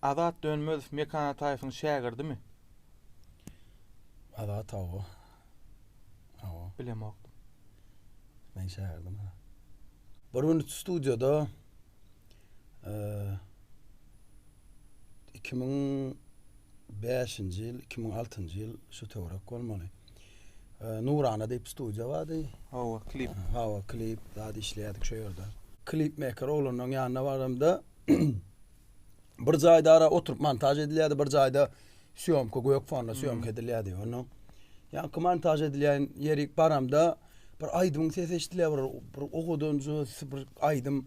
Azat Dönmezow Mekan Ataýewiň şägirdimi? Azat hawa. Hawa. Bilemokdym. Men şägirdim. Bir gün studiýada 2005-nji ýyl, 2006-njy ýyl şu töwerek bolmaly. Nurana diýip studiýa bardy. Hawa, klip. Hawa, klip zat işleýärdik şu ýerde. Klip meker oglanlaryň ýanyna baramda bir jaýda ara oturyp montaž edilýärdi, bir jaýda syýomka gök fonda syýomka hmm. edilýärdi. Onda ýaňky montaž edilýän ýeri baramda bir aýdymyň sesi eşidilýär, bir, bir owadanjy bir aýdym,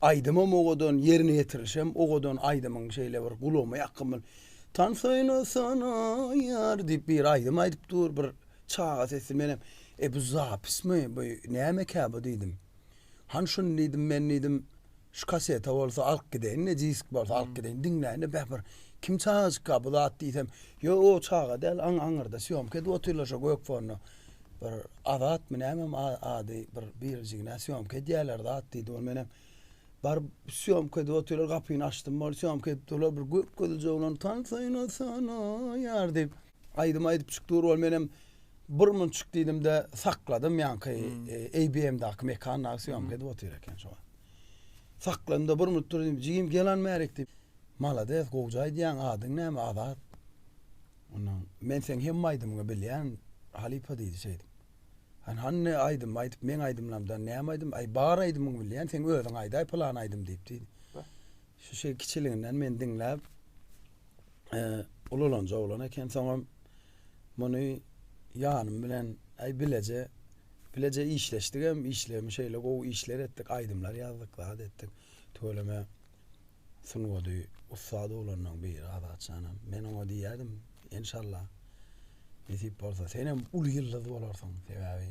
aýdymam owadan, ýerine ýetirilişem owadan aýdymyň şeýle bir gulagyma ýakyn bir Tan söýle sana ýar diýip bir aýdym aýdyp dur, bir çaga sesi menem, e bu zapismi, bu nämekä bu diýdim. Hany şuny diýdim, men diýdim, şu kasete bolsa alyp gideýin-de, disk bolsa alyp gideýin, diňläýin-de, beh, bir kim çagajykka bu zat diýsem, ýok, o çaga däl, aň, aňyrda sýomka edip otyrlar şo gök fonda. Bir Azatmy nämem ady, bir birjigine sýomka edýärler zat diýdi, ol menem baryp sýomka edip otyrlar, gapyny açdym, ol sýomka edip durlar, bir gök gözli jigulany tansaýlasana, ýar diýip. Aýdym aýdyp çyk dur bol menem bir munçuk diýdimde sakladym ýaňky ABM-daky mekandaky syýomka edip otyr eken şo wagt. Sakladymda bir munut dur diýdim jigim gelan bärik diýip. Malades gowja aýdýaň adyň näme Azat. Ondan men seň hemme aýdymyňy bilýän halypa diýdi şeýdip. Hany hany aýdym aýdyp meň aýdymlarymdan näme aýdym aý bar aýdymyňy bilýän seň özüň aýdaý pylan aýdym diýip diýdi. Şu şeý kiçiliginden meni diňläp ululanja oglan eken soňam muny ýanym bilen aý bileje bileje işleşdigem işlerimi şeýle gowy işler etdik aýdymlar ýazdyk zat etdik tüweleme sungady ussat oglanlaň biri azatjanam men oňa diýýädim enşalla nesip bolsa senem uly ýyldyz bolarsyň sebäbi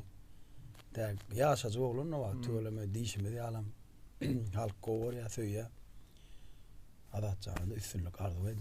däk ýaşajyk oglan o wagt tüweleme diýşimiz ýalam halk gowy görýä söýýä azatjana üstünlik arzuw edýän